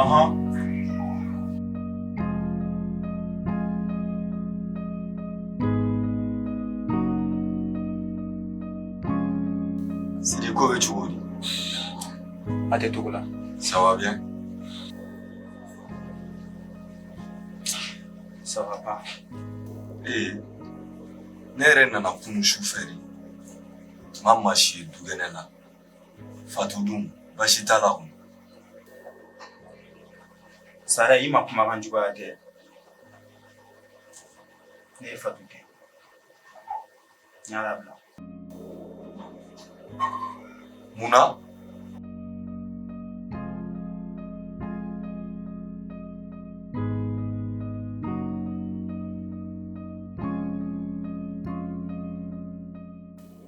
Aha. Sidi ko bɛ cogo di? A tɛ cogo la. Ça va bien? Ça va pas. Ee, ne yɛrɛ nana kunu su fɛ de. N ma maa si ye dukɛnɛ la. Fatu dun baasi t'a la sara i ma kumakan juguya kɛ ne ye fatu kɛ bila munna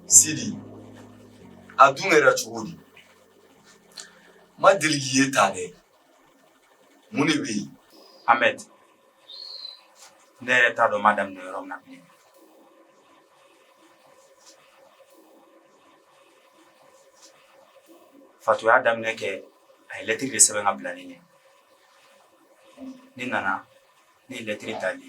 sidi a dun kɛra cogo di n ma deli k'i ye tan dɛ mun de bɛ yen ahmed ne yɛrɛ t'a dɔn n b'a daminɛ yɔrɔ min na bilen fatu y'a daminɛ kɛ a ye lɛtiri de sɛbɛn k'a bila ne ɲɛ ne nana ne ye lɛtiri tali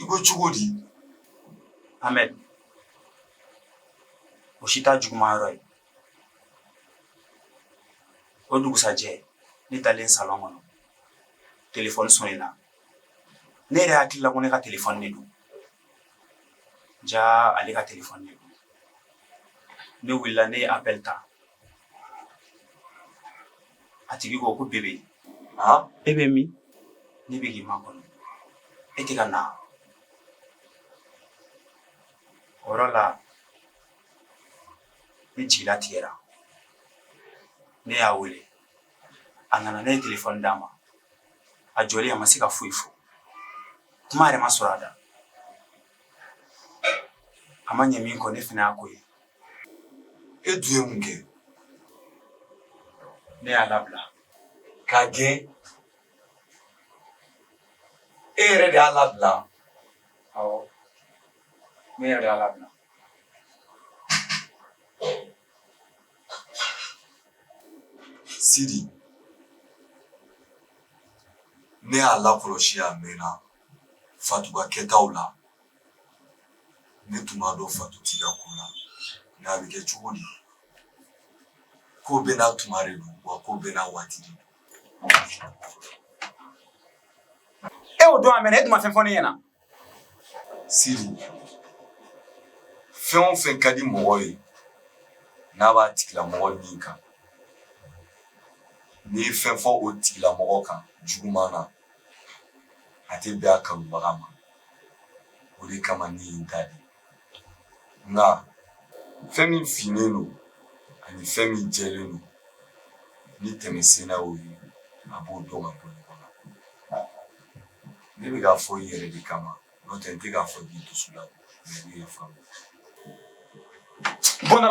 i ko cogo di ahmed o si t'a juguman yɔrɔ ye o dugusajɛ ne taalen salɔn kɔnɔ telefɔni sɔnena ne yɛrɛ hakili la ko ne ka telefɔni de don ja ale ka telefɔni de don ne wulila ne ye appel ta a tigi ko ko bebe ah e bɛ min ne bɛ k'i makɔnɔ e tɛ ka na o yɔrɔ la ne jigi latigɛra ne y'a wele a nana ne ye telefɔni d'a ma a jɔlen a ma se ka foyi fɔ kuma yɛrɛ ma sɔrɔ a da a ma ɲɛ min kɔ ne fana y'a ko ye e dun ye mun kɛ ne y'a labila k'a gɛn e yɛrɛ de y'a labila awɔ ne yɛrɛ de y'a labila Sidi ne y'a lakɔlɔsi a mɛnna fatu ka kɛtaw la ne tun b'a dɔn fatu t'i ka ko la nka a bɛ kɛ cogo di ko bɛɛ n'a tuma de don wa ko bɛɛ n'a waati de don e y'o dɔn a mɛnna e tun ma fɛn fɔ ne ɲɛna Siri fɛn o fɛn ka di mɔgɔ ye n'a b'a tigilamɔgɔ min kan n'i ye fɛn fɔ o tigilamɔgɔ kan juguman na a tɛ bɛn a kanubaga ma o de kama ne ye n da de Nka fɛn min finnen don ani fɛn min jɛlen don ni denmisɛnnin y'o ye a b'o dɔn ka bɔ ɲɔgɔn na ne bɛ k'a fɔ i yɛrɛ de kama n'o tɛ n tɛ k'a fɔ k'i dusu la mɛ ne ye faamu buna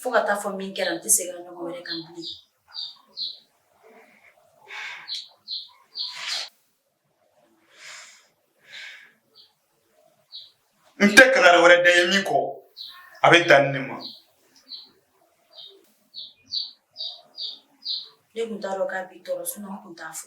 Fo ka taa fɔ min kɛra n tɛ segin a ɲɔgɔn wɛrɛ kan bilen n tɛ kankari wɛrɛ d'i ye min kɔ a bɛ dan nin ma ne tun t'a dɔn k'a b'i tɔɔrɔ sinɔn n tun t'a fɔ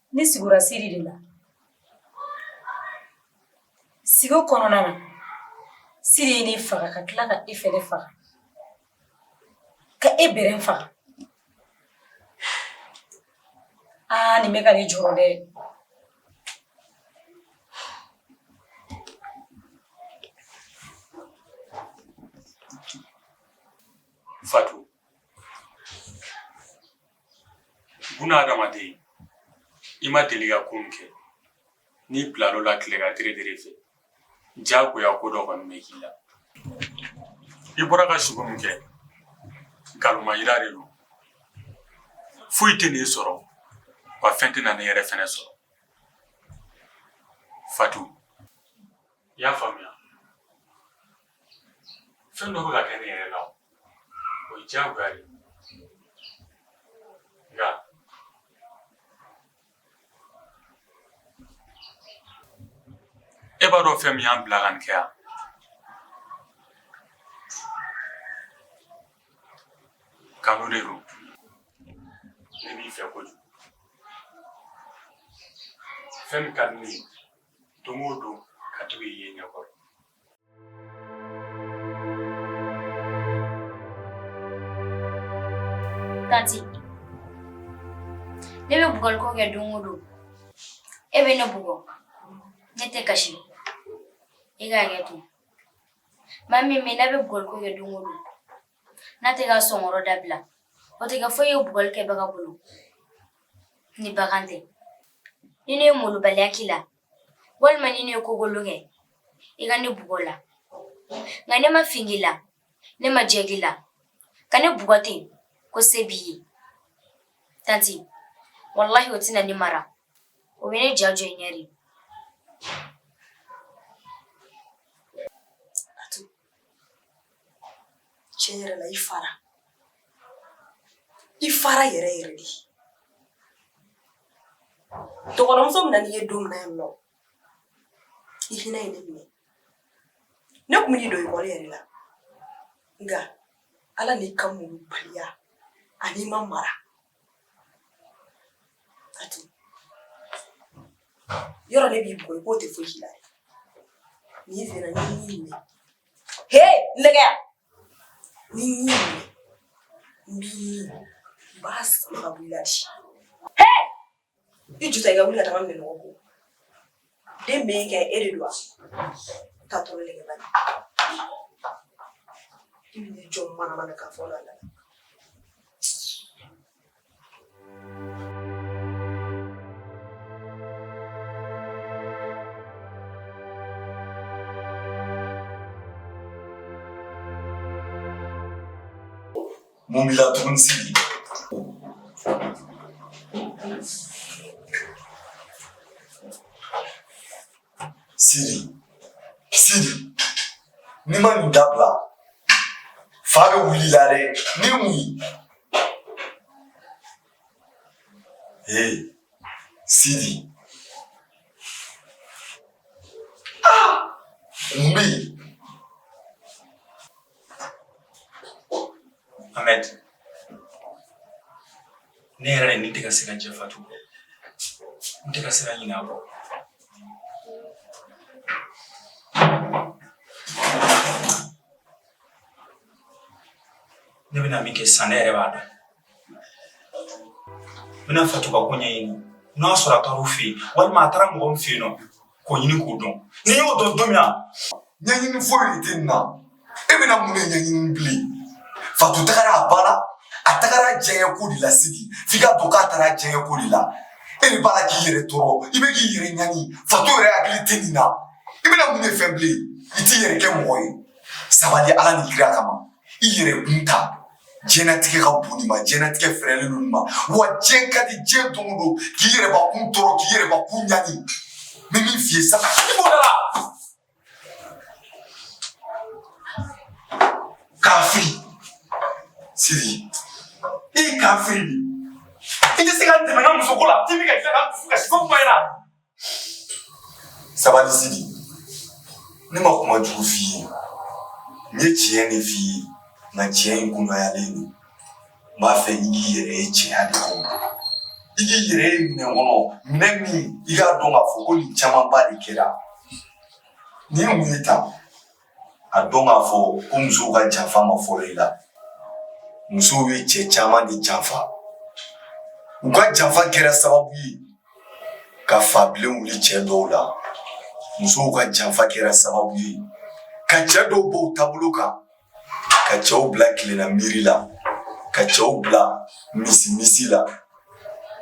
Ne sugora siri de la sugo kɔnɔna na siri ye ne faga ka tila ka e fɛnɛ faga ka i yɛrɛ faga aa nin bɛ ka ne jɔrɔ dɛ fatu buna adamaden i ma deli ka ko min kɛ n'i bilal'o la tilegan teretere fɛ jagoya ko dɔ kɔni bɛ k'i la i bɔra ka sugo min kɛ nkalonma yira de don foyi tɛn'i sɔrɔ wa fɛn tɛna ne yɛrɛ fɛnɛ sɔrɔ fatu i y'a faamuya fɛn dɔ bɛ ka kɛ ne yɛrɛ la o ye diyagoya de ye nka e b'a dɔn fɛn min y'an bila ka nin kɛ yan kanu de don ne b'i fɛ kojugu fɛn min ka di ne ye don o don ka to k'i ye n ɲɛkɔrɔ Tanti, ne bɛ bugɔli ko kɛ don o don, e bɛ ne bugɔ, ne tɛ kasi, e k'a kɛ ten. Maa min bɛ yen n'a bɛ bugɔli ko kɛ don o don, n'a tɛ k'a son kɔrɔ dabila, o tɛ kɛ foyi ye bugɔli kɛbaga bolo ni bagan tɛ. Ni ne ye molobaliya k'i la, walima ni ne ye ko kolon kɛ i ka ne bugɔ o la nka ne ma fin k'i la ne ma jɛ k'i la ka ne bugɔ ten ko se b'i ye tanti walahi o tɛna ne mara o bɛ ne ja jɔ i ɲɛ de tiɲɛ yɛrɛ la i fara i fara yɛrɛ yɛrɛ de dɔgɔtɔrɔmuso min nana n'i ye don min na yan nɔ i hinɛ ye ne minɛ ne tun bɛn'i don ekɔli yɛrɛ la nka ala n'i ka malobaliya ani i ma mara Yɔrɔ ne b'i bugɔ i k'o tɛ fosi la ni n sera n bɛ ɲin minɛ he nɛgɛya n bɛ ɲin minɛ n b'i ɲin n b'a sama ka bɔ i la de he I ju i ka wuli ka minɛn ko den bɛ kɛ e de wa ka to i jɔ manamanakan fɔ la mun b'i la tugun Sidi. Sidi. Sidi. N'i ma nin dabila, fa bɛ wuli i la dɛ. Nin mun ye? Ee, Sidi. Ah! Mun bɛ yen? Ahmed, ne yɛrɛ ni tɛ ka se ka jɛn Fatu kɔ. N tɛ ka se ka ɲinɛ a kɔ. Ne bɛna min kɛ sisan ne yɛrɛ b'a dɔn. N bɛna Fatu ka ko ɲɛɲini. N'a sɔrɔ a taar'u fɛ yen walima a taara mɔgɔ min fɛ yen nɔ k'o ɲini k'o dɔn n'i y'o dɔn don min na ɲɛɲini foyi de tɛ nin na e bɛna mun de ɲɛɲini bilen fatu tagara a ba la a tagara diɲɛ ko de la sigi f'i k'a dɔn k'a taara diɲɛ ko de la e de b'a la k'i yɛrɛ tɔɔrɔ i bɛ k'i yɛrɛ ɲani fatu yɛrɛ hakili tɛ nin na i bɛna mun de fɛn bilen i t'i yɛrɛ kɛ mɔgɔ ye sabali ala ni kira kama i yɛrɛ kun ta diɲɛnatigɛ ka bon nin ma diɲɛnatigɛ fɛrɛlen don nin ma wa diɲɛ ka di diɲɛ don o don k'i yɛrɛbakun tɔɔrɔ k'i yɛrɛbakun ɲani n bɛ min f'i ye saga i b'o da la kafiri sidi i ye kafiri de i tɛ se ka n dɛmɛ n ka musoko la k'i bɛ ka tila ka dusu kasi ko kuma in na sabali sidi ne ma kuma jugu f'i ye n ye tiɲɛ de f'i ye nka tiɲɛ in kunayalen don n b'a fɛ i k'i yɛrɛ ye tiɲɛya de kɔnɔ i k'i yɛrɛ ye minɛn kɔnɔ minɛn min i k'a dɔn k'a fɔ ko nin camanba de kɛra nin mun ye tan a dɔn k'a fɔ ko musow ka janfa ma fɔlɔ i la musow ye cɛ caman de janfa u ka janfa kɛra sababu ye ka fa bilen wuli cɛ dɔw la musow ka janfa kɛra sababu ye ka cɛ dɔw bɔ u taabolo kan ka cɛw bila kelenna miiri la ka cɛw bila misi misi la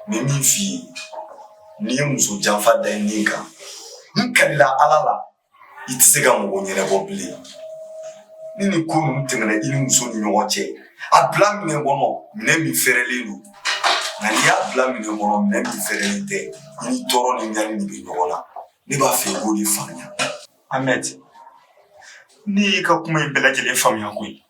ni min f'i ye n'i ye muso janfa da i ni kan n kalila ala la i tɛ se ka mɔgɔ ɲɛnabɔ bilen ni nin ko ninnu tɛmɛna i ni muso ni ɲɔgɔn cɛ a bila minɛn kɔnɔ minɛn min fɛrɛlen don nka n'i y'a bila minɛn kɔnɔ minɛn min fɛrɛlen tɛ i ni tɔɔrɔ ni ɲani de bɛ ɲɔgɔn na ne b'a fɛ i k'o de faamuya amɛti ne y'i ka kuma in bɛɛ lajɛlen faamuya koyi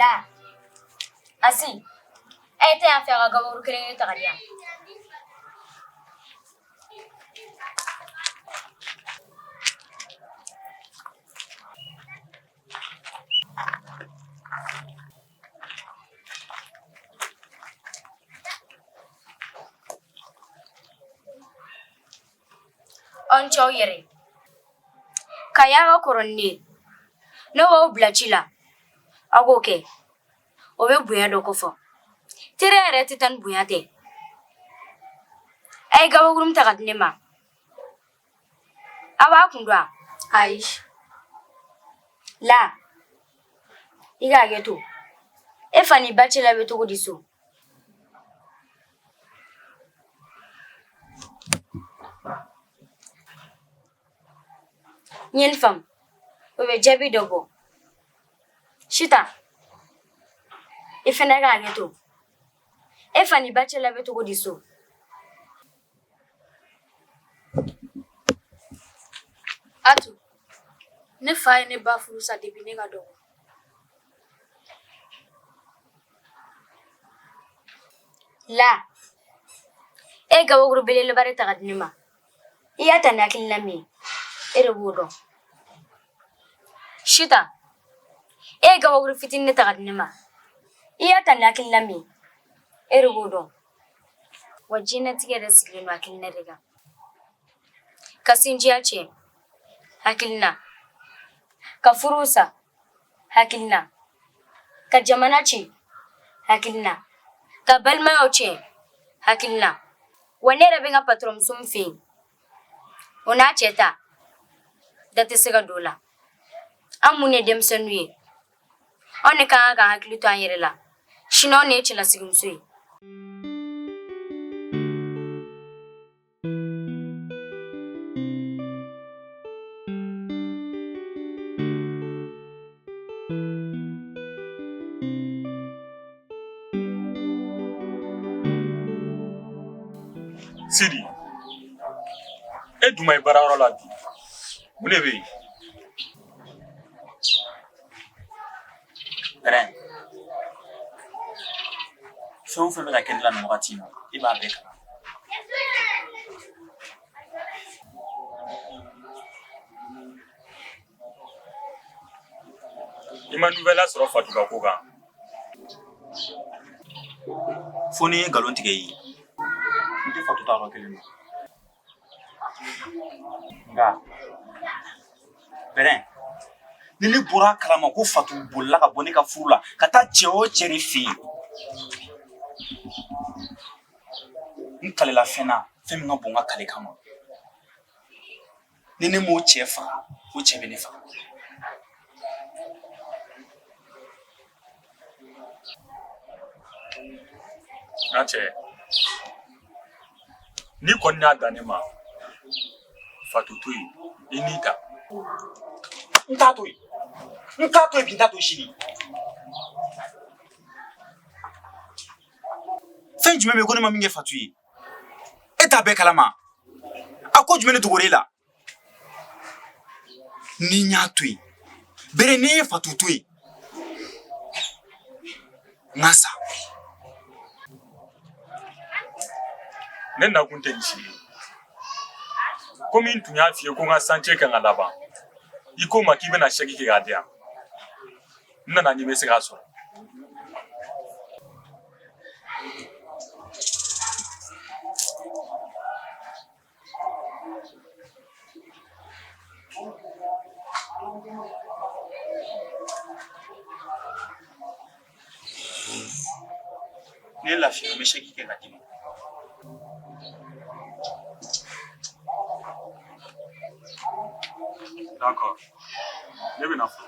La. Asi. A ye taa yan fɛ a ka gabakuru kelen kelen ta ka di yan. aw ni ce aw yɛrɛ k'a y'aw ka kɔrɔ ni ne ye ne b'aw bila ci la aw k'o kɛ o bɛ bonya dɔ kofɔ teriya yɛrɛ tɛ taa ni bonya tɛ a ye gabakurun ta ka di ne ma A bɛ kun dɔ la. Aish. La. I ka hakɛ to. E fa ni ba cɛla bɛ cogo di so? N ye nin faamu. O bɛ jaabi dɔ bɔ. Sita. I fana ka hakɛ to. E fa ni ba cɛla bɛ cogo di so? A tun ne fa ye ne ba furusa kabini ne ka dɔgɔ la e ye gabakuru belebeleba ta ka di ne ma i y'a ta ni hakilina min e de b'o dɔn sita e ye gabakuru fitinin de ta ka di ne ma i y'a ta ni hakilina min e de b'o dɔn Wa diɲɛlatigɛ yɛrɛ sigilen don hakilina de kan. Ka sinjiya tiɲɛ, hakilina, ka furu sa, hakilina, ka jamana tiɲɛ, hakilina, ka balimayaw tiɲɛ, hakilina. Wa ne yɛrɛ bɛ n ka patɔrɔn muso min fɛ yen, o n'a cɛ ta da tɛ se ka don o la. An minnu ye denmisɛnninw ye, anw de ka kan k'an hakili to an yɛrɛ la sini anw de ye cɛlasigimuso ye sidi e dun ma ye baarayɔrɔ la bi mun de bɛ yen Pɛrɛn fɛn o fɛn bɛ ka kɛ ne la nin wagati in na e b'a bɛɛ kalama i ma nouvelle sɔrɔ fatuba ko kan fo ni n ye nkalon tigɛ i ye n tɛ fatu taayɔrɔ kalama nka bɛrɛn ni ne bɔra a kalama ko fatu bolila ka bɔ ne ka furu la ka taa cɛ o cɛ de fɛ yen n kalila fɛn na fɛn min ka bon n ka kali kama ni ne m'o cɛ faga o cɛ bɛ ne faga n'a tɛ n'i kɔni y'a dan ne ma fatu to yen i n'i ta n t'a to yen n t'a to yen bi n t'a to sini fɛn jumɛn bɛ yen ko ne ma min kɛ fatu ye e t'a bɛɛ kalama a ko jumɛn de dogora e la ni n y'a to yen bere ni n ye fatu to yen n ka sa ne nakun tɛ nin si ye komi n tun y'a f'i ye ko n ka santiye ka kan ka laban i ko n ma k'i bɛna sɛki kɛ k'a di yan n nana ni n bɛ se k'a sɔrɔ Ne lafiya n bɛ sɛki kɛ k'a d'i ma. D'accord. Ne bɛ na fɔ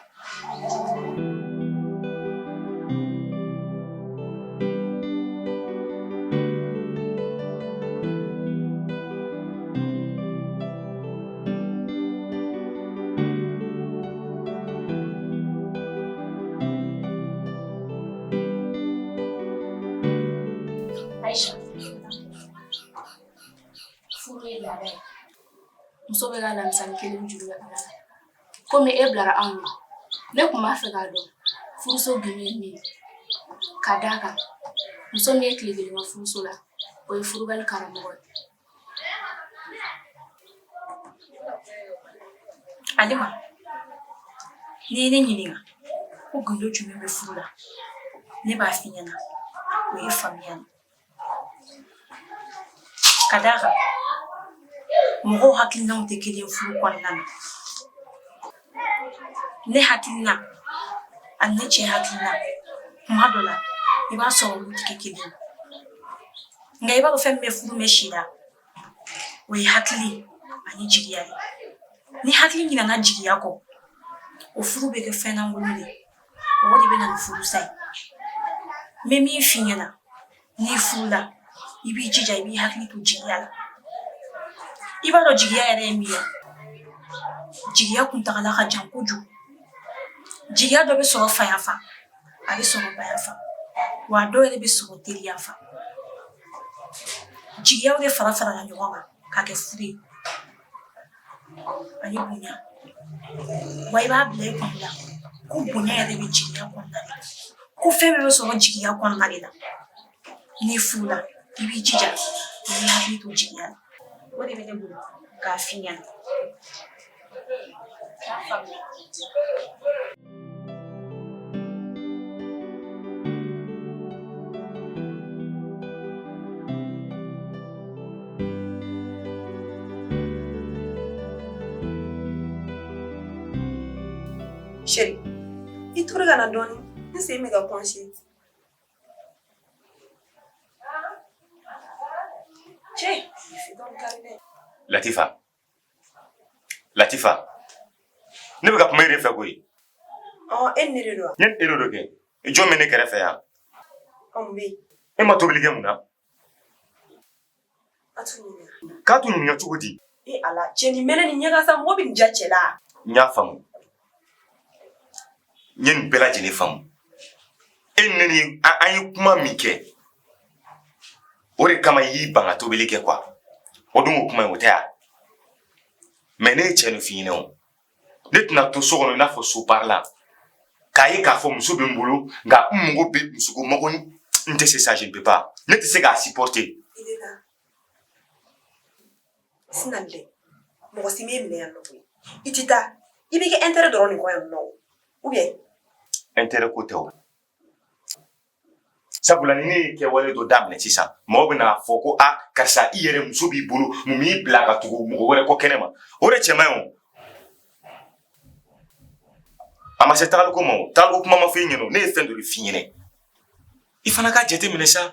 muso bɛɛ ka alamisa kelen juru la komi e bilara anw ma ne tun b'a fɛ k'a dɔn furuso bi ye min ye ka d'a kan muso min ye tile kelen kɛ furuso la o ye furubali karamɔgɔ ye Alima n'i ye ne ɲininka ko gundo jumɛn bɛ furu la ne b'a f'i ɲɛna o ye faamuya ye Ka d'a kan mɔgɔw hakilinaw tɛ kelen ye furu kɔnɔna na, ne hakilina ani ne cɛ hakilina tuma dɔ la i b'a sɔrɔ olu tɛ kɛ kelen ye nka i b'a dɔn fɛn min bɛ furu mɛɛn si la o ye hakili ani jigiya ye ni hakili ɲinɛna jigiya kɔ o furu bɛ kɛ fɛn lankolon de ye wa o de bɛ na ni furusa ye n bɛ min f'i ɲɛna n'i furula i b'i jija i b'i hakili to jigiya la i b'a dɔn jigiya yɛrɛ ye min ye jigiya kuntagala ka jan kojugu jigiya dɔ bɛ sɔrɔ faya fa a bɛ sɔrɔ baya fa wa a dɔw yɛrɛ bɛ sɔrɔ teriya fa jigiyaw de fara farala ɲɔgɔn kan ka kɛ furu ye Ani bonya wa i b'a bila i kun la ko bonya yɛrɛ bɛ jigiya kɔnɔna de la ko fɛn bɛɛ bɛ sɔrɔ jigiya kɔnɔna de la n'i furula i b'i jija i b'i hakili to jigiya la o de bɛ ne bolo k'a f'i ɲɛna Chérie, i tora ka na dɔɔnin n sen bɛ ka kɔnsi Latifa Latifa ne bɛ ka kuma e de fɛ koyi e ne de don ne e de don kɛ i jɔn bɛ ne kɛrɛfɛ yan e ma tobili kɛ mun na k'a tun ɲininka cogo di e ala cɛ ni mɛnɛ ni ɲɛkasa mɔgɔ bɛ nin ja cɛ la n y'a faamu n ye nin bɛɛ lajɛlen faamu e ne ni an ye kuma min kɛ o de kama i y'i ban ka tobili kɛ quoi o dun ko kuma ye o tɛ yan mais ne ye cɛ nin f'i ɲɛna o ne tɛna to so kɔnɔ i n'a fɔ so baarala k'a ye k'a fɔ muso bɛ n bolo nka n mago bɛ musoko mago n tɛ se ça je ne peux pas ne tɛ se k'a supporter Sinon dɛ mɔgɔ si m'i minɛ yan nɔ ko i tɛ taa i b'i ka intérêt dɔrɔn de kɔ yan nɔ o ou bien intérêt ko tɛ o sabula ni ne ye kɛwale dɔ daminɛ sisan mɔgɔw bɛna a fɔ ko a karisa i yɛrɛ muso b'i bolo mun b'i bila ka tugu mɔgɔ wɛrɛ kɔ kɛnɛ ma o de cɛ man ɲi o a ma se tagaliko ma o tagaliko kuma ma fɔ i ɲɛna o ne ye fɛn dɔ de f'i ɲɛna i fana k'a jateminɛ sa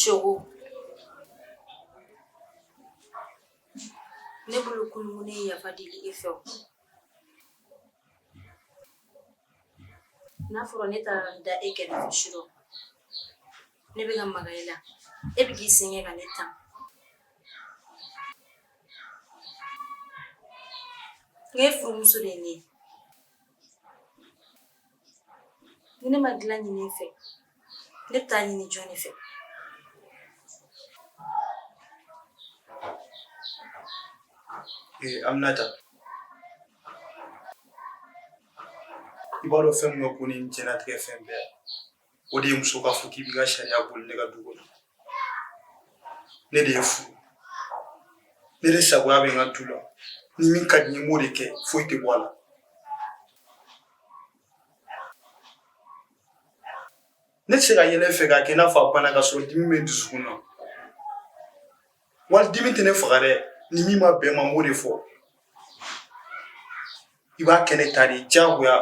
Shogo ne bolo kulumu ne ye yafa deli e fɛ o n'a fɔra ne taara da e kɛrɛfɛ surɔ ne bɛ ka maga e la e bɛ k'i sɛgɛn ka ne tan ne furumuso de ye ne ye Ni ne ma dilan ɲini i fɛ ne bɛ taa a ɲini jɔn de fɛ an bɛna ta i b'a dɔn fɛn min ko ni jɛnɛtigɛ fɛn bɛɛ O de ye muso k'a fɔ k'i b'i ka sariya boli ne ka du kɔnɔ ne de y'i furu ne de sagoya bɛ n ka du la ni min ka di n ye n b'o de kɛ foyi tɛ bɔ a la ne tɛ se ka yɛlɛ i fɛ k'a kɛ i n'a fɔ a bana ka sɔrɔ dimi bɛ n dusukun na walayi dimi tɛ ne faga dɛ ni min ma bɛn n ma n b'o de fɔ i b'a kɛ ne ta de diyagoya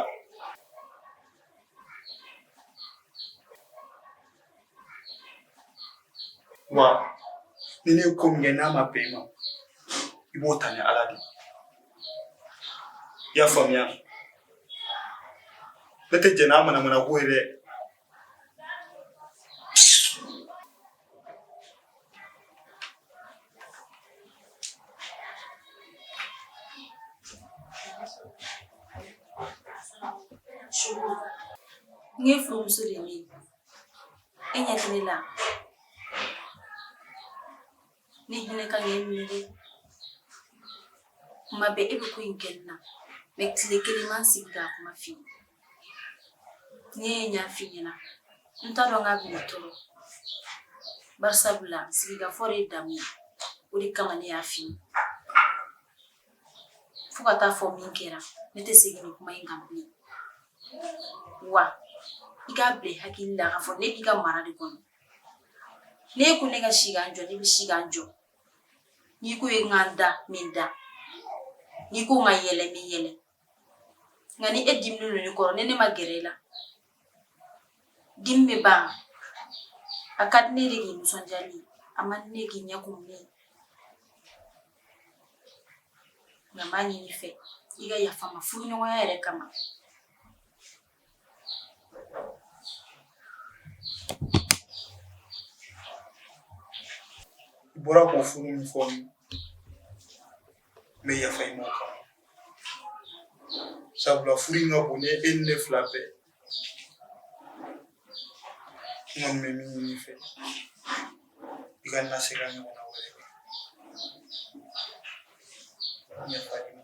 wa ni ne ye ko min kɛ n'a ma bɛn i ma i b'o ta ni ala de i y'a faamuya ne tɛ jɛn n'a manamanako ye dɛ N ye furumuso de ye e ɲɛ tɛ ne la ne hinɛ ka i minɛ dɛ tuma bɛɛ e bɛ ko in kɛ n na mɛ tile kelen n ma sigi ka kuma f'i ye ne ye ɲa f'i ɲɛna n t'a dɔn k'a b'i tɔɔrɔ bari sabula sigikafɔ de ye damu ye o de kama ne y'a f'i ye fo ka taa fɔ min kɛra ne tɛ segin nin kuma in kan bilen wa i k'a bila i hakili la k'a fɔ ne b'i ka mara de kɔnɔ N'i ko ne ka si ka jɔ ne bɛ si ka jɔ n'i ko ne ka n da n bɛ n da n'i ko n ka yɛlɛ n bɛ yɛlɛ nka ni e diminen don ne kɔrɔ ne ne ma gɛrɛ i la dimi ba a ka ne de nisɔndiya a ma ne k'i ɲɛ kun ne ye nka n b'a ɲini i fɛ i ka yafa n ma furuɲɔgɔnya yɛrɛ kama I bɔra k'o furu min fɔ n bɛ yafa i ma o kama sabula furu in ka bon ni e ni ne fila bɛɛ n kɔni bɛ min ɲini i fɛ i kana se k'a ɲɔgɔnna wɛrɛ kɛ yafa i ma